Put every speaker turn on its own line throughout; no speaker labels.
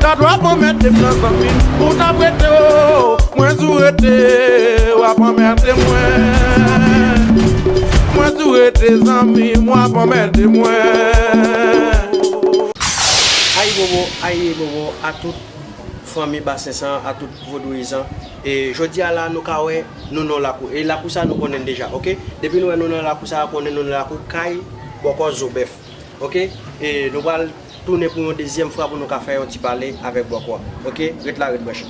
Ta dwe ap anmède m nan zanmi m pou w ta prete o Mwen tou rete w ap anmède mwen Mwen tou rete zanmi m w ap anmède mwen.
Ayibobo ayibobo a tout fanmi basen san a tout vodouyizan e jodi a la nou ka wè nou nan yon lakou e lakou sa nou konnen deja ok depi nou wè nou nan lakou sa konnen nou nan lakou kay bòkò zobèf ok e nou pral Tounen pou yon dezyèm fwa pou nou ka fè yon ti pale avèk bòk ou a. Ok, ret la, ret branche.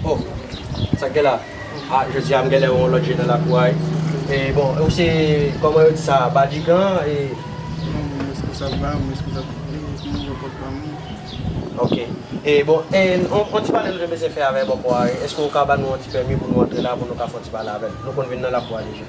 Oh, sa k gen la? Ah, jodi a m genlè wè yon lòt je nan lakou a wi. E bon, ou se, kòman yo di sa a, Badigan e? Non, m responsab la, m responsab tout li, se mwen bòk wap ban mwen. Ok. E bon, e yon ti pale nou te bezwen fè avèk bòk ou a, èske ou ka ba nou yon ti pèmi pou nou antre la pou nou ka fè yon ti pale avèl? Nou konn vin nan lakou a deja.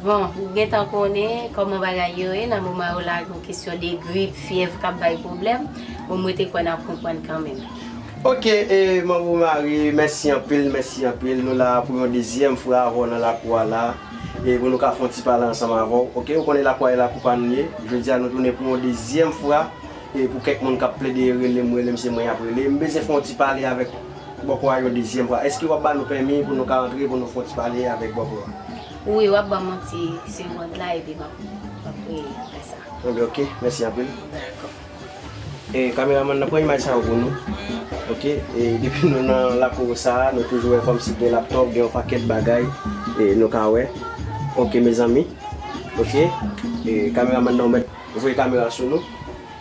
Bon, ou gentan
konnen kòman bagay yo ye nan moman yo lage yon kesyon de grip, fyèv kap bay pwoblèm, bon mwen te kwè nap konprann kanmenm. Ok e
manbo Omari mèsi anpil mèsi anpil nou la pou yon dezyèm fwa avèw nan lakou a la e pou nou ka fon ti pale ansanm avèw ok ou konnen lakou a e lakou pa nou ye jodi a nou tounen pou yon dezyèm fwa e pou kèk moun kap plede relem relem se mwen yap rele m bezyen fon yon ti pale avèk bòkò a yon dezyèm fwa eske wap ba nou pèmi pou nou ka antre pou nou fon ti pale avèk bòkò a. Wi wap
banm yon ti segond la epi map fè sa. Bon ben ok mèsi anpil.
Dakò.
E
kameramann nan pran imaj sa yo pou nou ok e depi nou nan lakou sa nou toujou wè kòmsi gen laptòp gen yon pakèt bagay e nou ka wè ok mezanmi ok e kameramann nan ou mèt voye kamera sou nou.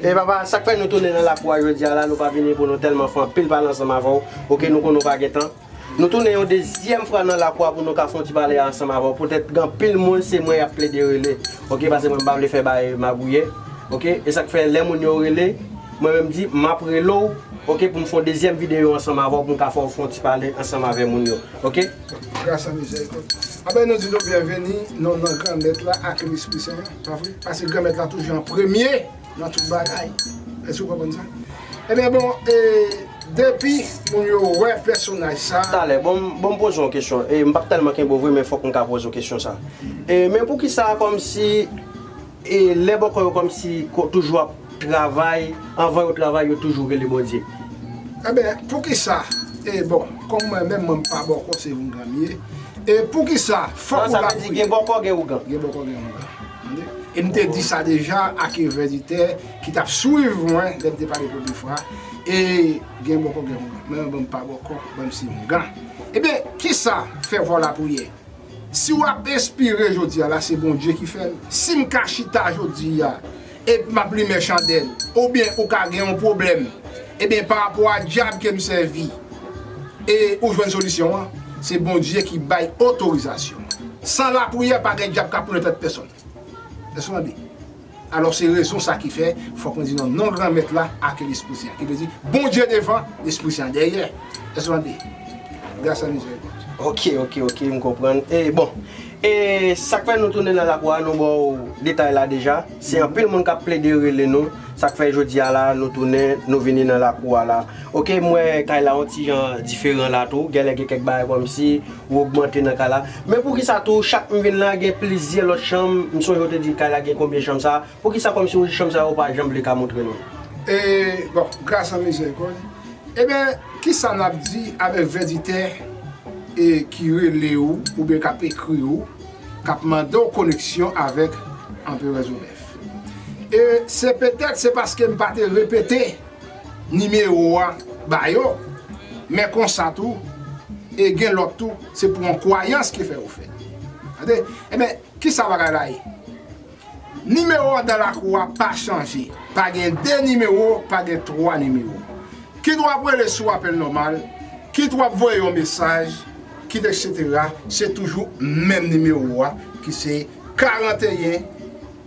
Hey papa sak fè nou tounen nan lakou a jodia la nou pa vini pou nou telman fè anpil pale ansanm avèw ok nou konnen ou pa gen tan nou tounen yon dezyèm fwa nan lakou a pou nou ka fè yon ti pale ansanm avèw poutèt gen anpil moun se mwen yap plede rele ok pase mwen pa vle fè bagay magouyè ok esak fè lè moun yo rele mwen menm di map relew ok poum fè yon dezyèm videyo ansanm avèw poum ka fèw fè yon ti pale ansanm avè moun yo ok. Gras a
mizèrikòd. Apre nou di nou byenveni nan non Granmèt la ak Lespri Sen an, pa vre? Paske Granmèt la toujou an premye nan tout bagay. Èske ou konprann sa? Ebyen bon, e depi moun yo wè pèsonaj sa a. Talè, bon m poze
w yon kesyon. E m p ap tèlman kenbe w vre men fòk m ka poze w kesyon sa a. E men poukisa kòmsi. E lè bòkò yo kòmsi toujou ap travay anvan yo travay yo toujou rele Bondye. Enben
poukisa e bon kòm mwen menm mwen pa bòkò se oungan m ye e poukisa fòk ou la priye. Gen bòkò gen
ougan. Gen bòkò gen ougan. Tande.
E m te di sa deja a ke vèzitè ki t ap swiv mwen lè m te pale premye fwa e gen bòkò gen ougan. Men mwen menm m pa bòkò mwen m se oungan. Ebyen kisa fè fò w la priye. Si wap enspire jodi a la se Bondye ki fèl, sim ka chita jodi a epi map limen chandèl oubyen ou ka gen yon pwoblèm ebyen pa rapò a dyab kem sèvi e ou jwenn solisyon an se Bondye ki bay otorizasyon san lapriyè pa gen dyab kap tounen tèt pèsòn èske w tande. Alò se rezon sa ki fè, fòk nou di nan non Granmèt la ake Lespri Sen an, ki vle di, Bondye devan, Lespri Sen an dèyè. Èske nou tande? Gras ak mizèrikòd.
Oke, oke, oke, m konprann. E, bon. E, sa k fè nou tounen nan lakou a, nou ba w detay la deja. Se anpil moun k ap plede rele nou, sa k fè jodi a la, nou tounen, nou vini nan lakou a la. Oke, m wè kay la yon ti jan diferan la tou. Genlè gen kèk bagay kòmsi. Ou ogmante nan kay la. Men poukisa tou chak m vin la gen plizyè lòt chanm, m sonje ou te di kay la gen konbyen chanm sa, poukisa kòmsi ou chanm sa yo ou pa janm vle ka montre nou? E bon
gras an mizèrikòd. Eben kisa n ap di avèk vèditè e ki rele ou oubyen k ap ekri ou k ap mande w koneksyon avèk Anperè Zobèf? E se petèt se paske m pa te repete nimewo a ba yo men konsa tou e gen lòt tou se pou yon kwayans ki fè yo fè tande enben kisa bagay la ye nimewo dan lakou a pa chanje pa gen 2 nimewo pa gen 3 nimewo kit w ap rele sou apèl nòmal kit w ap voye yon mesaj kit eksetera se toujou menm nimewo a ki se 41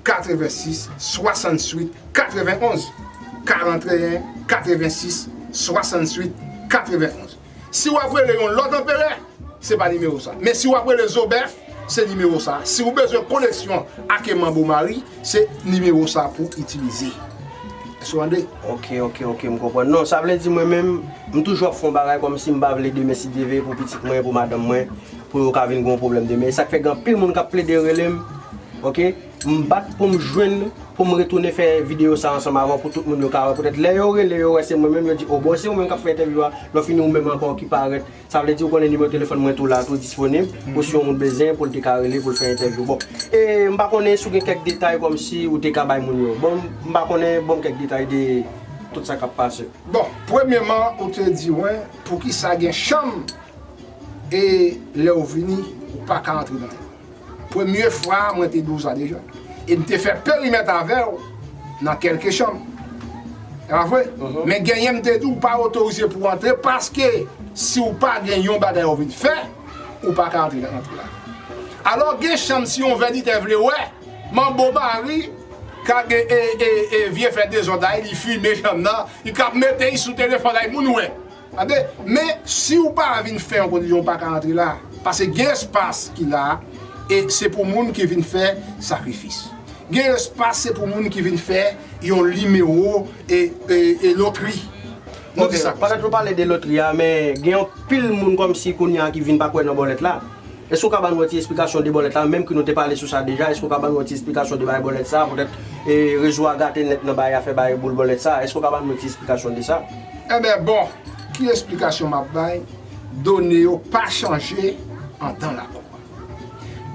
86 68 91 41 86 68 91 si wap rele yon lòt anperè se pa nimewo sa men si wap rele zobèf se nimewo sa si ou bezwen koleksyon ake manbo mari se nimewo sa pou itilize èske ou tande.
Ok ok ok m konprann non sa vle di mwen menm m toujou ap fè yon bagay kòmsi m pa vle demen si Dieu veut pou pitit mwen pou madanm mwen Pou yo ka vin gen yon pwoblèm demen. E sa k fè gen anpil moun k ap plede rele m. Ok. M bat pou m jwenn, pou m retounen fè videyo sa ansanm avè w pou tout moun yo ka wè. Poutèt lè yo rele, yo wè se mwen menm, yo di, o bon se ou menm k ap fè entèvyou a, lè w fini ou menm ankò ki parèt. Sa vle di ou konnen nimewo telefòn mwen tou la, tou disponib pou si yon moun bezyen pou l te ka rele pou l fè entèvyou. Bon, e m pa konnen si w gen kèk detay kòmsi ou te ka bay moun yo. Bon, m pa konnen, ban m kèk detay de tout sa k ap pase. Bon, premyeman,
ou te di mwen, poukisa gen chanm e lèw vini ou paka antre nan yo premye fwa mwen te doza deja e mte fè perimèt avèw nan kelke chanm e pa vre men genyen mte di ou pa otorize pou antre paske siw pa gen yon bagay ou vin fè ou paka antre nan antre la alò gen chanm si yon vèditè vle wè manbo mari ka gen e e e vye fè dezòd la li fime chanm nan li kap mete sou telefòn la e moun wè. Tande, men si ou pa vin fè yon kondisyon ou pa ka antre la, pase gen espas ki la e se pou moun ki vin fè sakrifis. Gen espas se pou moun ki vin fè yon nimewo e lotri. Nou di sa
konsa. Ok, pètèt nou pale de lotri a, men gen yon pil moun kòmsi kounya ki vin pa kwè nan bòlèt la. Èske ou ka ban nou yon ti esplikasyon de bòlèt la, menm ke nou te pale sou sa deja, èske ou ka ban nou yon ti esplikasyon de baye bòlèt sa, poutèt rezo a gate nèt nan baye afè baye boul bòlèt sa, èske ou ka ban nou yon ti esplikasyon de sa? Enben bon,
ki esplikasyon m ap bay, done yo pa chanje andan lakou a.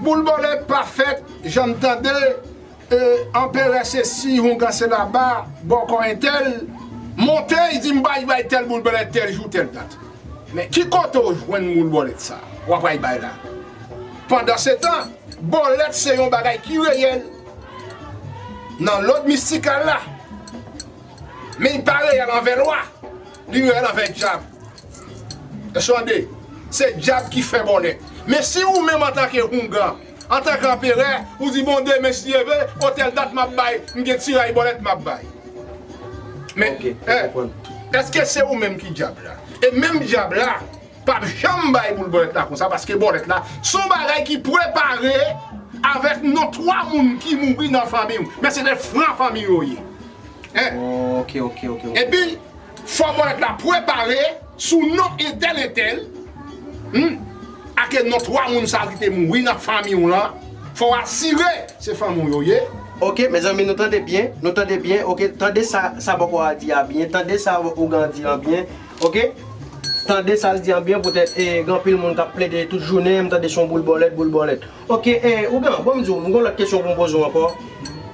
Boul bòlèt pa fèt, jan n tande E anperè se siy houngan se laba bòkò entèl monte y di m bay bay tèl boul bèlèt tèl jou tèl dat. Men ki kote w jwenn boul bòlèt sa w ap bay bay la? Pandansetan bòlèt se yon bagay ki reyèl nan lòd mistikal la men y pa reyèl anvè lwa, li reyèl anvè dyab. Èske w tande? Se dyab ki fè bòlèt. Men si ou menm antanke houngan. Antanke anperè, ou di bon demen si Dye ve, o tèl dat map bay, m gen ti ray bòlèt map bay. Men, èske se ou menm ki dyab la? E menm dyab la pap janm bay boul bòlèt la konsa paske bòlèt la se yon bagay ki prepare avèk non twa moun ki mouri nan fanmi ou, men se de fran fanmi yo ye. Epi, Fò ponyèt la pwepare sou non entèl entèl humm ake non 3 moun sa kite mouri nan fanmi w lan fò w asire se fanmi w yo ye. Ok mezanmi
nou tande byen nou tande byen ok tande sa sa bòkò a di a byen tande sa ougan an di an byen ok tande sal di an byen poutèt e gen anpil moun kap plede tout jounen m tande son boul bòlèt boul bòlèt. Ok eh ou blan bon m di w m gon lòt kesyon pou m poze w ankò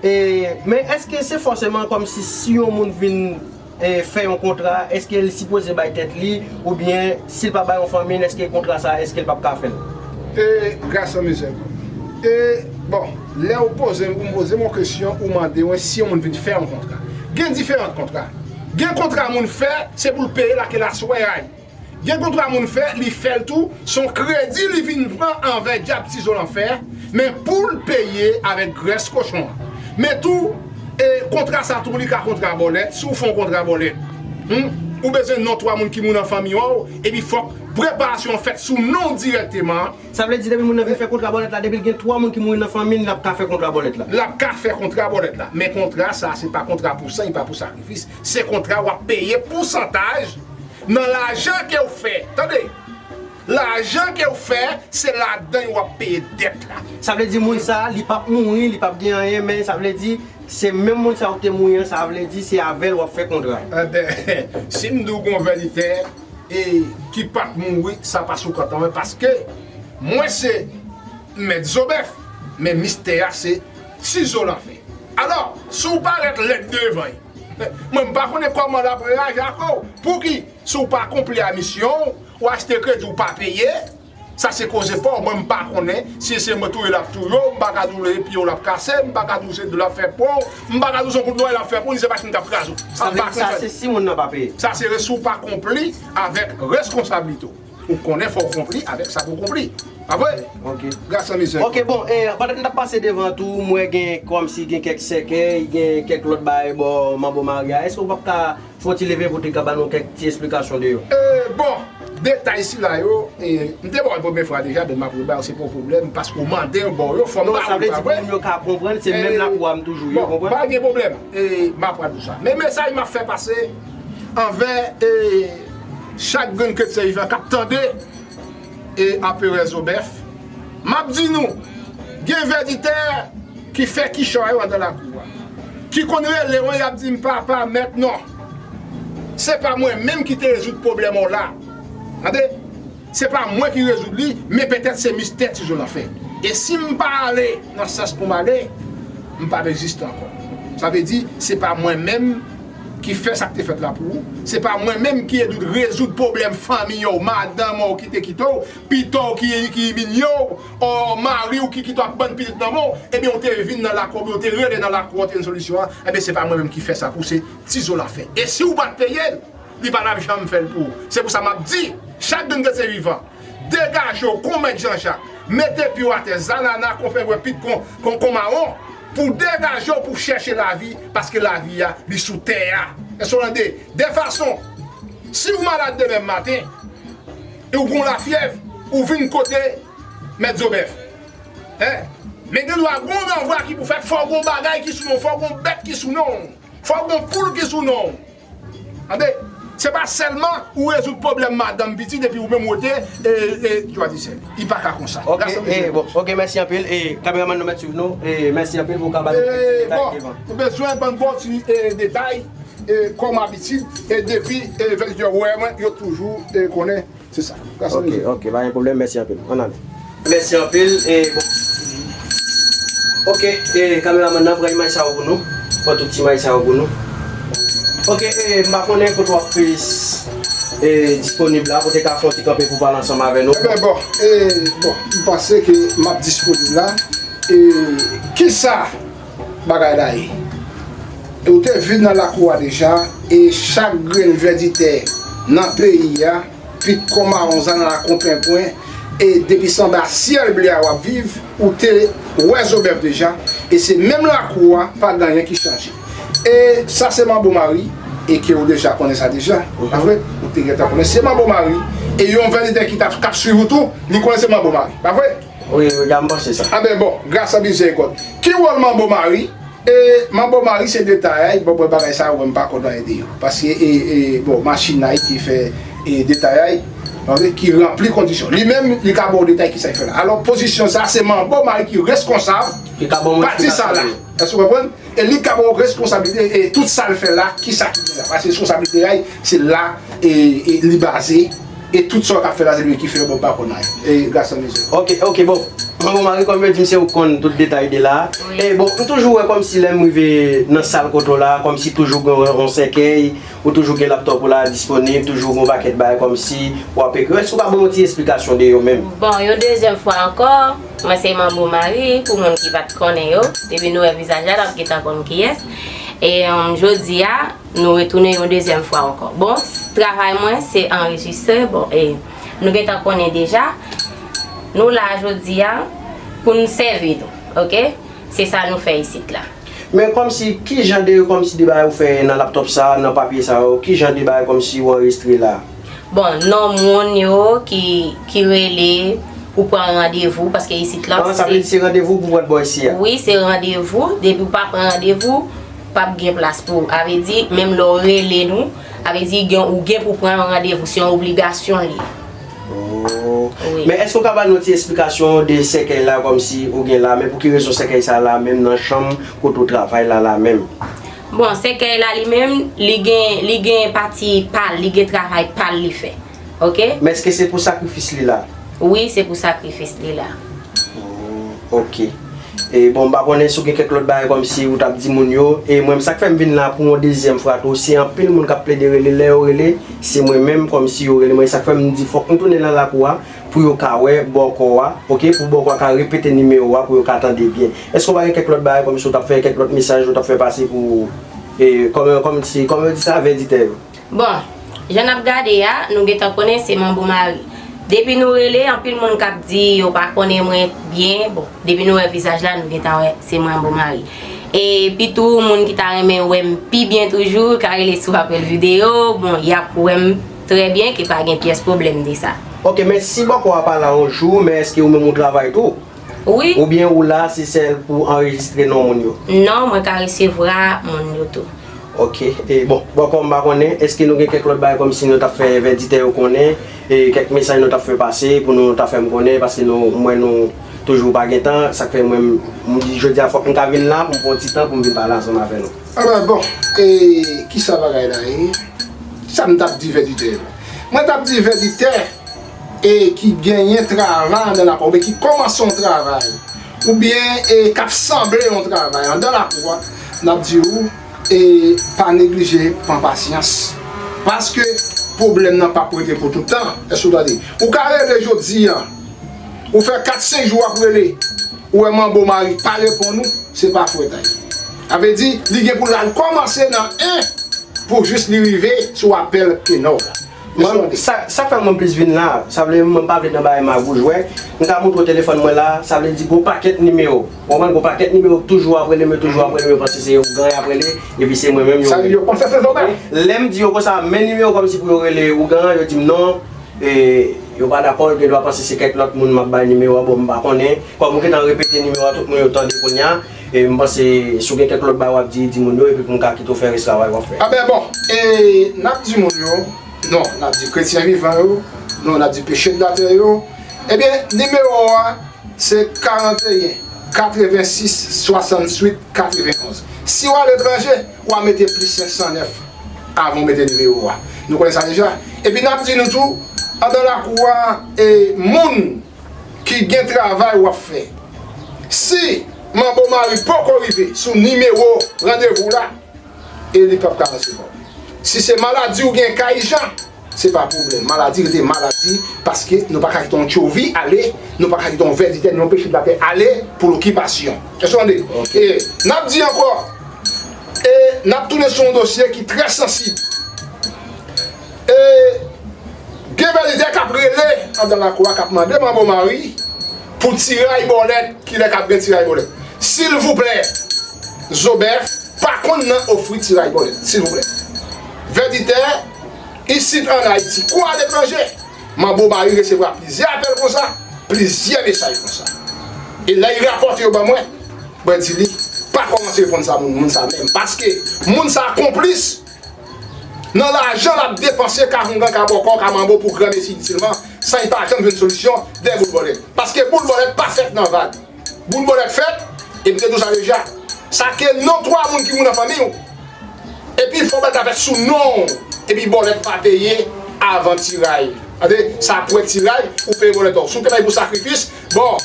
eh men èske se fòseman kòmsi si yon moun vin eh fè yon kontra èske l sipoze bay tèt li oubyen si l pa bay yon fanmi l èske kontra sa èske l p ap ka fè l. Eh
Gaston Mizel eh bon lè ou poze m ou poze m yon kesyon ou mande mwen si yon moun vin fè yon kontra gen diferant kontra gen kontra moun fè se pou l peye l ak elaswè a y. Gen kontra moun fè li fèl tou son kredi li vin pran anvè dyab tizo lanfè men poul peye avèk grès kochon an men tou e kontra sa tou li ka kontra bòlèt si w fon kontra bòlèt humm ou bezwen non 3 moun ki moun an fanmi ow epi fòk preparasyon an fèt sou non w dirèkteman. Sa vle di depi moun nan
vin fè kontra bòlèt la depi l gen 3 moun ki mouri nan fanmi l lap ka fè kontra bòlèt la. Lap ka fè kontra bòlèt
la men kontra sa se pa kontra pou san epa pou sakrifis Se kontra wap peye pousantaj nan lajan kew fè tande lajan kew fè se ladan yo wap peye dèt la. Sa vle di moun sa
li pap mouri li pap gen anyen men sa vle di se menm moun sa ou te mouri an sa vle di se avèl wap fè kontra. Enben sim
diw gon vèlitè e ki pat mouri sa pa sou kont mwen paske mwen se mèt zobèf men mistè a se Sizo la fè. Alò, si w parèt lèd devan y, mwen m pa konnen kòman l ap reyaji ak ou. Pouki, si w pa akonpli a misyon w, w achte kredi w pa peye, sa se koze pa w, mwen m pa konnen si se mwen touye l ap touye w, m pa ka di w leve pye w l ap kase, m pa ka di w se do l ap fè pou w, m pa ka di w se yon kout lwayè l ap fè pou w, ni se machin k ap kraze w. Sa se
si moun nan pa peye. Sa se si w pa
akonpli avèk rèskonsabilite w. Ou konnen fòw konpli avèk sa pou konpli. Pa vre? Ok. Gras an mizè.
Ok
bon e pandan m tap
pase devan tou m wè gen kòmsi gen kèk sèkèy, gen kèk lòt bagay bò manbo Mari a. Èske ou pap ka fon ti leve pou te ka ba nou kèk ti esplikasyon de yo? E bon,
detay sila yo e m te ba w l premye fwa deja men map re ba w se pa yon pwoblèm paske ou mande m ba w yo fòk m ba w yo pa vre? Non sa vle di pou moun yo ka
konprann se menm lakwa m toujou ye ou konprann? Bon pa gen pwoblèm
e map pran tout sa. Men mesaj map fè pase. anvè e chak grenn kretyen vivan kap tande e Aperè Zobèf, map di nou gen vèditè ki fè kichòy yo andan lakou a, ki konn rele mwen yap dim papa mèt non se pa mwen menm ki te rezoud pwoblèm w la tande. Se pa mwen ki rezoud li, men petèt se mistè ti Zola fè. E si m pa ale nan sans pou m ale, m p ap egziste ankò. Sa vle di, se pa mwen menm ki fè sa k te fèt la pou ou, se pa mwen menm ki ede w rezoud pwoblèm fanmi w, madanm w ki te kite w, pito w ki iminye w, ò mari w ki kite w ak bann pitit nan men w, ebyen w te vin nan lakou oubyen w te rele nan lakou an te jwenn solisyon an, ebyen se pa mwen menm ki fè sa pou w, se ti Zola fè. E si w pa t peye l? Li pa tap janm fèl pou ou. Se pou sa map di chak grenn kretyen vivan degaje w kon mèt Janjak mete pye w atè zanana kon pengwen pit kon kon mawon pou w degaje w pou w chèche lavi paske lavi a li sou tè a eske w tande de fason si w malad demen maten e w gon lafyèv ou vin kote mèt zobèf e men gen dwa gon ranvwa ki pou fèt fò gon bagay ki sou non w fò gon bèt ki sou non w fò gon poul ki sou non w. Tande, se pa selman ou rezoud pwoblem madanm pitit epi ou menm wote e dwa disè. Li pa ka konsa. Ok e bon. Ok mèsi
anpil e kameraman nou mèt swiv nou e mèsi anpil pou ka ba nou kèk ti detay ki devan.
Bon, ou bezwen ban bon ti detay e kòm abitid e depi e vèzitè wè mwen yo toujou konnen. Se sa. Gras ok ok pa gen
problem mèsi anpil ann ale. Mèsi anpil e bon ok e kameraman nan pran imaj sa yo pou nou pran tout imaj sa yo pou nou ok e m pa konnen kote wap p e disponib la poutèt a fon ti kanpe pou pale ansanm avè nou. Ebyen bon e
bon m panse ke map disponib la e kisa Bagay la ye. E ou te vin nan lakou a deja, e chak grenn vèditè nan peyi a, pit kò mawon zannala kon penpwen, e depi se anba syèl ble a w ap viv, ou te wè zo bèf deja, e se menm lakou a, pa gen anyen ki chanje. E sa se manbo mari, e ke ou deja konnen sa deja, pa vre? Ou te gentan konnen se manbo mari, e yon vèditè ki t ap, k ap suiv ou tou, li konnen se manbo mari, pa vre? Wi wi gam panse
sa. Amen bon gras an
mizerikòd. Ki wòl manbo mari e manbo mari se detayay bon mwen bagay sa yo mwen mpa konn anyen de yo paske e e bon machin la wi ki fè e detayay ok ki ranpli kondisyon li menm li ka baw detay kisa li fè la alò pozisyon sa se manbo mari ki reskonsab pati sa la èske ou konprann. E li ka ba w responsabilite e tout sa l fè la ki sa ki gen la. Paske reskonsablite a se la li baze e tout sa w ta fè la se li ki fè yo bon pa konn anyen. E gras an mizè. Ok ok bon.
Bon bon Marie kòm yo di m se ou k konn tout detay de la. E bon m toujou wè kòm si lè m rive nan sal kote w la kòm si toujou gen yon sèkèy ou toujou gen laptòp ou la disponib toujou gen yon pakèt bagay kòm si w ap ekri. Èske ou ka ban m yon ti esplikasyon de yo menm? Bon yon dezyèm
fwa ankò. Mwen se Manbo Marie pou moun ki pat konnen yo, depi nou wè vizaj la nap gentan konn kiyès e jodia nou retounen yon dezyèm fwa ankò bon travay mwen se anrejistre bon e nou gentan konnen deja nou la jodia poun sèvi nou ok se sa nou fè isit la. Men kòmsi
kijan de kòmsi de bagay ou fè nan laptop sa nan papye sa yo kijan de bagay kòmsi ou anrejistre la. Bon
non moun yo ki rele pou pran randevou paske isit la. Sa vle di se randevou
pou pran bò isi a. Wi se randevou,
depi ou pa pran randevou, pap gen plas pou ou. A vle di menm lè ou rele nou, a vle di gen ou gen pou pran yon randevou, se yon obligasyon li. Ohh.
Men èske ou
ka ba nou yon ti
esplikasyon de sèkèy la kòmsi ou gen la men pou ki rezon sèkèy sa la menm nan chanm kote ou travay la la menm? Bon sèkèy
la li menm li gen li gen pati pal li gen travay pal li fè ok. Men eske se pou
sakrifis li la? Wi se pou
sakrifis li la. Ooh
ok e bon m pa konnen si w gen kèk lòt bagay kòmsi ou t ap di moun yo e mwen m sa k fè m vin la pou yon dezyèm fwa tou se anpil moun k ap plede rele lè yo rele se mwen menm kòmsi yo rele mwen e sa k fè m di fòk m tounen nan lakou a Pou yo ka wè bòkò a ok pou bòkò a ka repete nimewo a pou yo ka tande byen eske ou pa gen kèk lòt bagay kòmsi ou tap fè kèk lòt mesaj ou tap fè pase pou kòmsi kòman yo di sa vèditè yo. Bon
Jan nap gade a nou gentan konnen se manbo mari depi nou rele anpil moun kap di yo pa konnen mwen byen bon depi nou wè vizaj la nou gentan wè se manbo mari e pitou moun ki ta renmen wèm pi byen toujou ka rele sou apèl video bon yap wèm Trè byen ke pa gen pyès pwoblèm de sa. Ok men si bòkò
a pa la on jou men eske ou menm ou travay tou? Wi. Ou byen
ou la se
sèl pou anrejistre non moun yo? Non mwen ka resevra
moun yo tou. Ok e
bon bòkò m pa konnen eske nou gen kèk lòt bagay kòm si nou tap fè vèditè yo konnen e kèk mesaj nou tap fè pase pou nou ta fèm konnen paske nou m wè nou toujou pa gen tan sak fè mwen m di jodi a fòk m ta vin la pou m pran yon ti tan pou m vin pale ansanm avè nou. Alò bon e
kisa bagay la ye? Sa m t ap di vèditè yo? Mwen t ap di vèditè e ki genyen travay andan lakou a oubyen ki kòmanse yon travay oubyen e k ap sanble yon travay andan lakou a, n ap di ou e pa neglije pran pasyans paske pwoblèm nan p ap rete pou toutan. Èske w tande? Ou ka reve jodi an. Ou fè 4 5 jou wap rele ou wè manbo mari pa reponn ou se pa fwètay sa vle di li gen pou lal kòmanse nan 1 pou jis li rive sou apèl kenòw la Mwen
sak fè mwen plis vin la sa vle mwen pa vle nan bagay magou jwè m ka montre w telefòn mwen la sa vle di gon pakèt nimewo ou konprann gon pakèt nimewo k toujou ap rele m yo toujou ap rele m yo panse se yon ougan yap rele epi se mwen menm yo rele
lèm di yo konsa
men nimewo kòmsi pou yo rele ougan an yo di m non E yo pa dakò, yo gen dwa panse se kèk lòt moun m ap bay nimewo a, bon m pa konnen. Kòm ou gentan repete nimewo a, tout moun yo tande kounye a. E m panse si w gen kèk lòt bagay w ap di, di moun yo epi pou m ka kite w fè rès travay w ap fè. Anben bon, e
n ap di moun yo, non, n ap di kretyen vivan yo, non, n ap di peche n latè yo, ebyen nimewo a se 41 86 68 91. Si w aletranje. Wa mete plis 509 avan w mete nimewo wa. Nou konnen sa deja. Epi nap di nou tou, andan lakou wa e moun ki gen travay wap fè. Si manbo mari poko rive sou nimewo randevou w la, e li pap ka resevwa w. Si se maladi w gen ka ijan, Se pa pwoblèm. Maladi rete maladi paske nou pa ka kite yon tchovi ale, nou pa ka kite yon vè di tè ni yon peche platè ale pou lokipasyon. Èske w tande? E n ap di ankò, e n ap tounen sou yon dosye ki trè sansib. E gen vè di tè k ap rele andan lakou a, k ap mande Manbo Mari pou tiray bòlèt. Kilè k ap gen tiray bòlèt? Silvouplè! Zobèf pa konn nan ofri tiray bòlèt. Silvouplè! Vè di tè! isit an Ayiti kou aletranje. Manbo Mari resevwa plizyè apèl konsa, plizyè mesaj konsa. E lè li rapòte yo ban mwen, mwen di li, pa kòmanse reponn sa moun sa menm paske moun sa a konplis nan lajan l ap depanse ka houngan, ka bòkò, ka manbo pou granmesi itilman san li pa janm jwenn solisyon dèyè boulbòlèt. Paske boulbòlèt pa fèt nan vag. Boul bonèt fèt epi te dous a deja. Sa ke non 3 moun ki moun nan fanmi w. Epi fò bèl ta fèt sou non w. Epi bonèt pa peye avan tiray. Tande sa pwè tiray ou peye bonèt ou. Si w te bay pou sakrifis, bon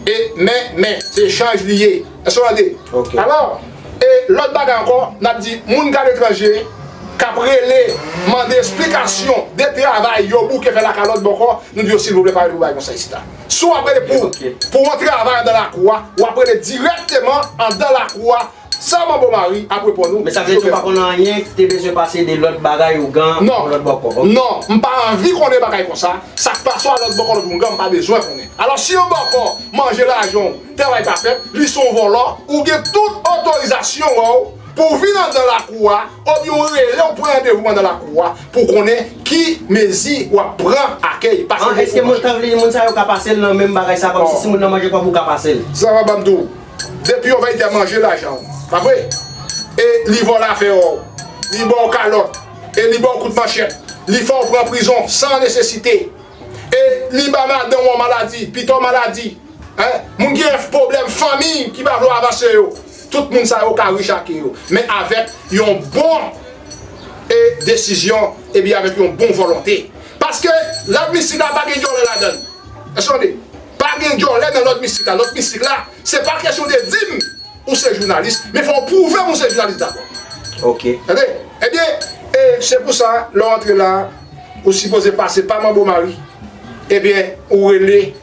e men men se echanj li ye. Èske w tande? Alò,
e
lòt bagay ankò n ap di moun ki aletranje k ap rele mande esplikasyon de travay yo bouke fè lakalòt bòkò, nou di yo silvouplè pa rele pou bagay konsa isita. Si w ap rele pou pou yon travay andan lakou a, w ap rele dirèkteman andan lakou a, Sè Manbo Mari ap reponn ou. Men sa vle di ou pa konnen anyen
ki te bezwen pase de lòt bagay ougan pou lòt bòkò? Non, non, m pa anvi
konnen bagay konsa, sa k pase a lòt bòkò lòt ougan m pa bezwen konnen. Alò si yon bòkò manje lajan w, travay pa fèt, li se yon vòlò, ou gen tout otorizasyon wè w, Pou w vin andan lakou a, obyen ou rele ou pran randevou andan lakou a pou w konnen ki mezi w ap pran akèy pase An eske moun kan vle
moun sa yo ka pase l nan menm bagay sa kòmsi si moun nan manje kòb ou ka pase l? Sa va banm tou.
Depi yon vèyitè manje lajan w, pa vre? E li vòlè afè ò w, li ba w kalòt, e li ba w kout manchèt, li fè w pran prizon san nesesite, e li ba madanm ou an maladi, pito maladi, hein, moun ki gen pwoblèm fanmi ki pa vle w avanse yo. Tout moun sa yo ka rich ake yo men avèk yon bon e desizyon epi avèk yon bon volonte paske lòt mistik la pa gen dyòlè ladan l èske w tande pa gen dyòlè nan lòt mistik la lòt mistik la se pa kesyon de di m ou se jounalis men fò w pwouve m ou se jounalis dabò ok tande ebyen e se pou sa lè w antre la. Ou sipoze pase pa manbo mari ebyen ou rele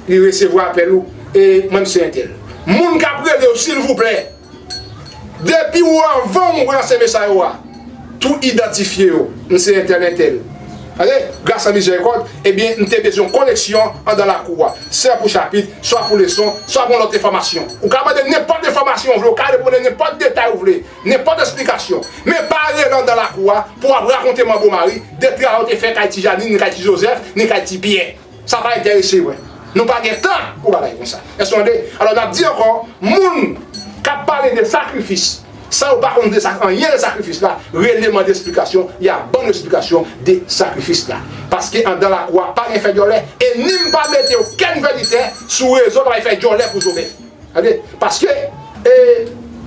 li resevwa apèl ou e mwen se entèl. Moun kap relew silvouplè depi ou anvanw ranse mesay ou a tou idantifye yo m se entèl entèl ok gras a mizèrikòd ebyen m te bezwen koneksyon andan lakou a swa pou chapit swa pou leson swa pou yon lòt enfòmasyon ou ka mande nenpòt enfòmasyon ou vle ou ka reponde nenpòt detay ou vle Nenpòt esplikasyon. Men pa ale landan lakou a pou w ap rakonte manbo mari, detra yo te fè kay ti Janine ni kay ti Jozèf ni kay ti Pyè. Sa pa enterese mwen. Nou pa gen tan pou bagay konsa. Èske nou tande? Alò n ap di ankò, moun k ap pale de sakrifis san yo pa konn de sa anyen de sakrifis la, rele mande esplikasyon, y a ban nou esplikasyon de sakrifis la. Paske andan lakou a pa gen fè dyòlè e ni m pa mete okenn vèditè sou rezo k ap al fè dyòlè pou Jovèf. Ok paske e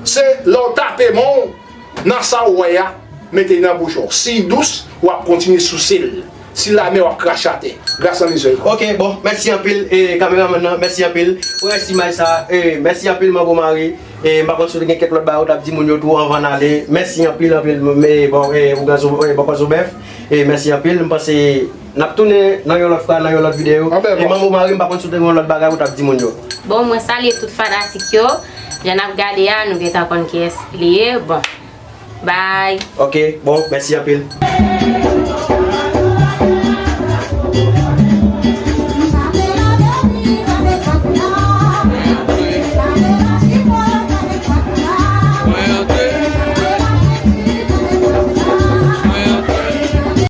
se lè w tape men w nan sa w wè a mete nan bouch ou si l dous w ap kontinye souse l si l amè w ap krache atè gras nan lizè yo. Ok bon mèsi anpil
e kameramann nan mèsi anpil pou rès imaj sa e mèsi anpil manbo Mari e m pa konn si w te gen kèk lòt bagay w t ap di moun yo tou anvan n ale mèsi anpil anpil m bon e ougan zo e bòkò zo bèf e mèsi anpil m panse Nap tounen nan yon lòt fwa nan yon lòt video e manbo mari m pa konn si w te gen yon lòt bagay ou tap di moun yo. Bon mwen salye tout
fanatik yo jan nap gade a nou gentan konn
kiyès
li ye
bon
bye.
Ok
bon mèsi
anpil.